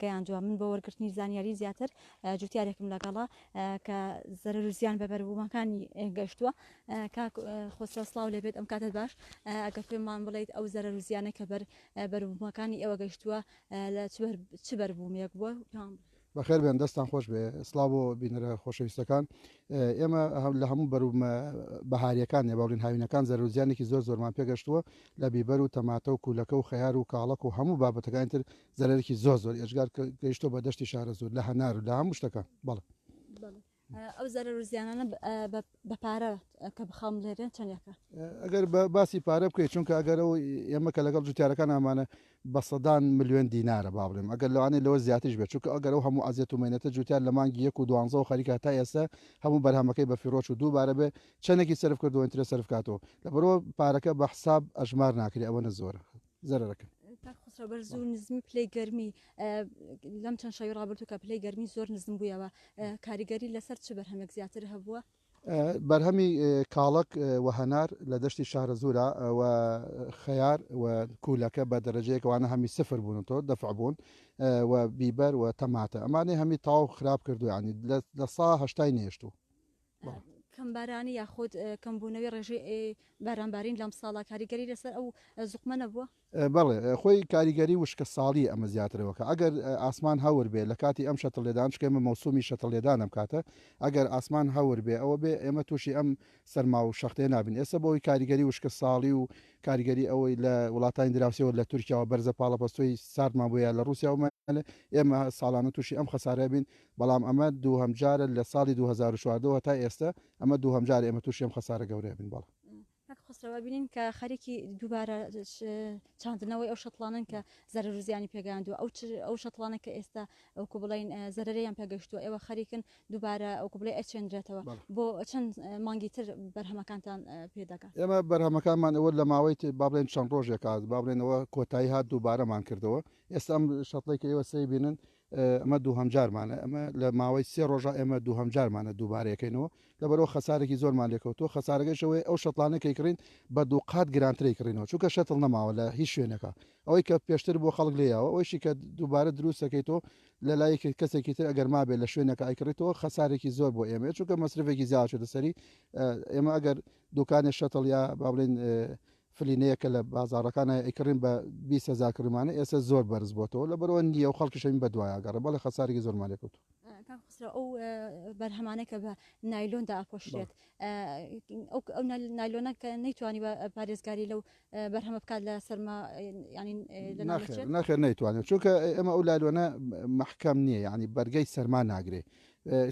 گەیاندووە، من بۆ وەرگرتنی زانیاری زیاتر جوتیارێکم لەگەڵە کە زەرەرو زیان بە بەروبومەکانی گەشتووە کاک خۆسرەو سڵاو لێبێت ئەم کاتت باش ئەگەر پێمان بڵیت ئەو زەرەرو زیانە کە بەر بەروبومەکانی ئێوە گەشتووە لە چ بەربومێک بووە پێمان بڵێ. بەخێر بێن دەستان خۆش بێ. سڵاو بۆ بینەرە خۆشەویستەکان. ئێمە لە هەموو بەروبمە بەهاریەکان نێ باڵین هاوینەکان زەرەرو زیانێکی زۆر زۆرمان پێگەشتووە لە بیبەر و تەماتە و کوولەکە و خەیار و کاڵەک و هەموو بابەتەکانی تر زەرەرێکی زۆر زۆر ئێجگار گەیشتۆ بە دەشتی شارەزور لە هەنار و لە هەموو شتەکە بەڵێ ئەو زەرە روزیانانە بە پارە کە بخەم لێرێن چەندەکە ئەگەر بە باسی پارە بکەیت چونکە ئەگەرەوە ئێمە کە لەگەڵ جوتیارەکان ئامانە بە سەدان میلیۆن دینارە با بڵێم ئەگەر لەوانەیە لەوە زیاترش بێت چونکە ئەگەرەوە هەموو ئازیەت و مێنێتە جوتیار لە مانگی یەک و دوانزە و خەریکە تا ئێستا هەموو بەرهەمەکەی بە فیرۆچ و دووبارە بێ چەندێکی سرف کردو ئینترە سرفکاتەوە لە بەرەوە پارەکە بە حساب ئەژمار ناکری ئەوەنە زۆرە زەرەکە خسرە بەر زوو نزمی پلی گەرمی لەم چەند شەوی ڕابرتو کە پلی گەرمی زۆر نزم بوویەوە کاریگەری لەسەر چ بەرهەمێک زیاتر هەبووە بەرهەمی کاڵک و هەنار لە دەشتی شارە زورا و خەیار و کوولەکە بە دەرەجەیەکەوانە هەمی سفر بوون تۆ دەفع بوون و بیبەر و تەماتە ئەمانەی هەمی تاو خراپ کردویانی لە ساهشتای نێشتوو کەمبارانی یاخود کەمبوونەوەی ڕێژەی بارانبارین لەمساڵە کاریگەری لەسەر ئەو زوقمە نەبووە؟ بەڵێ خۆی کاریگەری وشکە ساڵی ئەمە زیاترەوەکە ئەگەر ئاسمان هەور بێ لەکاتی ئەم شەتڵ لێدان چکێمە مەوسومی شەتڵ لێدان ئەم کاتە ئەگەر ئاسمان هەور بێ ئەوە بێ ئێمە تووشی ئەم سەرما و شەختێ نابین ئێسە بۆی کاریگەری وشکە ساڵی و کاریگەری ئەوەی لە وڵاتانی دراوسێەوە لە تورکیاوە بەرزە پاڵەپەستۆی ساردمان بۆیە لە ڕوسیاومە ئێمە ساڵانە تووشی ئەم خەسارە بین بەڵام ئەمە دووهەمجارە لە ساڵی دوو هەزار و چواردە و هەتا ئێستە ئەمە دووهەمجارە ئێمە تووشی ئەم خەسارە گەورەیە بین. بەڵێ. کاک خەسرەو ئەبینین کە خەریکی دووبارە چاندنەوەی ئەو شەتڵانن کە زەرەر و زیانی پێگەیاندووە ئەو ئەو شەتڵانە کە ئێستا ئەوکو بڵین زەرەریان پێگەشتووە ئێوە خەریکن دووبارە ئەوکو بڵێ ئەچێنرێتەوە بۆ چەند مانگی تر بەرهەمەکانتان پێدەکات ئێمە بەرهەمەکانمان ئەوە لە ماوەی بابلێن چەند ڕۆژێکات بابلێنەوە کۆتایی هات دووبارەمان کردەوە ئێستا ئەم شەتڵی کە ئێوە سەیبینن ئەمە دووهەمجارمانە ئەمە لە ماوەی سێ ڕۆژە ئێمە دووهەمجارمانە دووبارەیەکەینەوە لەبەرئەوە خەسارێکی زۆرمان لێکەوتووە خەسارەکەش ئەوەیە ئەو شەتڵانە کە ئەیکڕین بە دووقات گرانتر ئەیکڕینەوە چونکە شەتڵ نەماوە لە هیچ شوێنەکە ئەوەی کە پێشتر بۆ خەڵک لێ یاوە ئەوەیشی کە دووبارە دروستەکەیتەوە لە لای کەسێکی تر ئەگەر مابێت لە شوێنەکە ئەیکڕێتەوە خەسارێکی زۆر بۆ ئێمەیە چونکە مەسرفێکی زیاوە چێتە سەری ئێمە ئەگەر دوکانێ شەتڵ یا با بڵێن فلینەیە کە لە بازاڕەکان ئەیکڕین بە بیست هەزار کڕیمانە ئێستا زۆر بەرز بۆتەوە لەبەرئەوە نییە و خەڵکیش هەمین بەدوای ئەگەڕێ بەڵێ خەسارێکی زۆرمان لێ کەوتووە. کاک خەسرەو ئەو بەرهەمانە کە بە نایلۆندا ئەپۆشرێت ئەو نایلۆنە کە نەیتوانی بە پارێزگاری لەو بەرهەمە بکات لە سەرما ناخێر نەیتوانێت چونکە ئەمە ئەو لایلۆنە محکەم نییە یعنی بەرگەی سەرما ناگرێ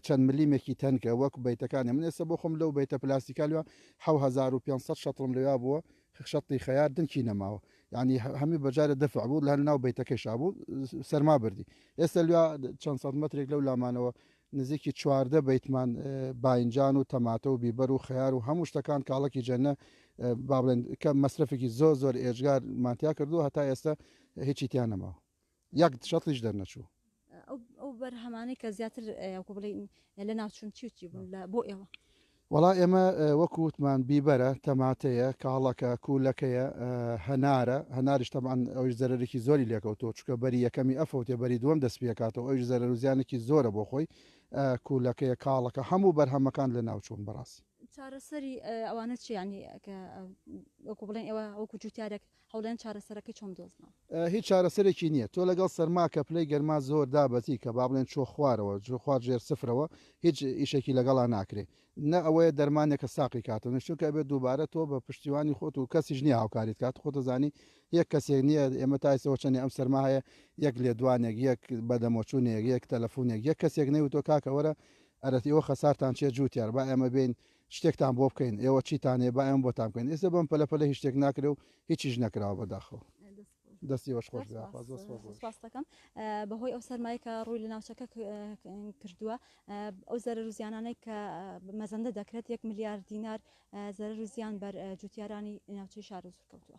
چەند ملیمێکی تەنکە وەک بەیتەکانی من ئێستا بۆ خۆم لەو بەیتە پلاستیکا لوا حەو هەزار و پێنج سەد شەتڵم لەوا بووە شەتڵی خەیار دنکی نەماوە یعنی هەمی بەجارە دەفع بوو لە ناو بەیتەکەشا بوو سەرما بردی ئێستا لوا چەند سەد مترێک لەو لامانەوە نزیکی چواردە بەیتمان باینجان و تەماتە و بیبەر و خەیار و هەموو شتەکان کاڵکی جەنە با بڵێن کە مەسرفێکی زۆر زۆر ئێجگار ماتیا کردو هەتا ئێستا هیچی تیان نەماوە یەک شەتڵیش دەرنەچوو ئەو بەرهەمانەی کە زیاتر بڵین لە ناوچون چی چی بوون لە بۆ ئێوە وڵا ئێمە وەکو وتمان بیبەرە تەماتەیە کاڵەکە کوولەکەیە هەنارە هەناریش تەمان ئەوش زەرێکی زۆری لێکەوتۆ چکە بەری یەکەمی ئەفەوتێ بەری دووەم دەست پێکاتەوە ئەوش زەرەر و زیانێکی زۆرە بۆ خۆی کوولەکەیە کاڵەکە هەموو بەرهەمەکان لە ناوچوون بەڕاستی چارەسەری ئەوانە چیانی کە وەکو بڵێن ئێوە وەکو جوتارێک هەولێن چارەسەرەکەی چۆن بدۆزمەوە؟ هیچ چارەسەرێکی نیە تۆ لەگەڵ سەرما کە پلەی گەرما زۆر دابەزی کە بابڵێن چۆ خوارەوە جۆ خوار ژێر سفرەوە هیچ ئیشێکی لەگەڵا ناکرێ نە ئەوەیە دەرمانێکە ساقی کاتەوە نە چونکە ئەبێت دووبارە تۆ بە پشتیوانی خۆت و کەسیش نیە هاوکاریت کات خۆتە زانی یەک کەسێک نیە ئێمە تایسەوە چەنێ ئەم سەرما هەیە یەک لێدوانێک یەک بەدەمۆچوونێک یەک تەلەفونێک یەک کەسێک نەیوتۆ کاکە وەرە ئەرەتیەوە خەسارتان چێ جووتیار با ئێمە بین شتێکتان بۆ بکەین ئێوە چیتان هەیە با ئێمە بۆتان بکەین ئێستا بەم پەلە پەلە هیچ شتێک ناکرێ و هیچیش نەکراوە بەداخەوە دەستی وەش خۆش بێ، خوا زۆر سوپاس دەکەم. سپاس دەکەم اه، بەهۆی ئەو سەرمایە کە ڕووی لە ناوچەکە ک- اه، ک- اه، کردووە اه، ئەو زەرەر و زیانانەی کە اه، مەزەندە دەکرێت یەک ملیار دینار اه، زەرەر و زیان بەر اه، جووتیارانی ناوچەی شار و سوور کەوتووە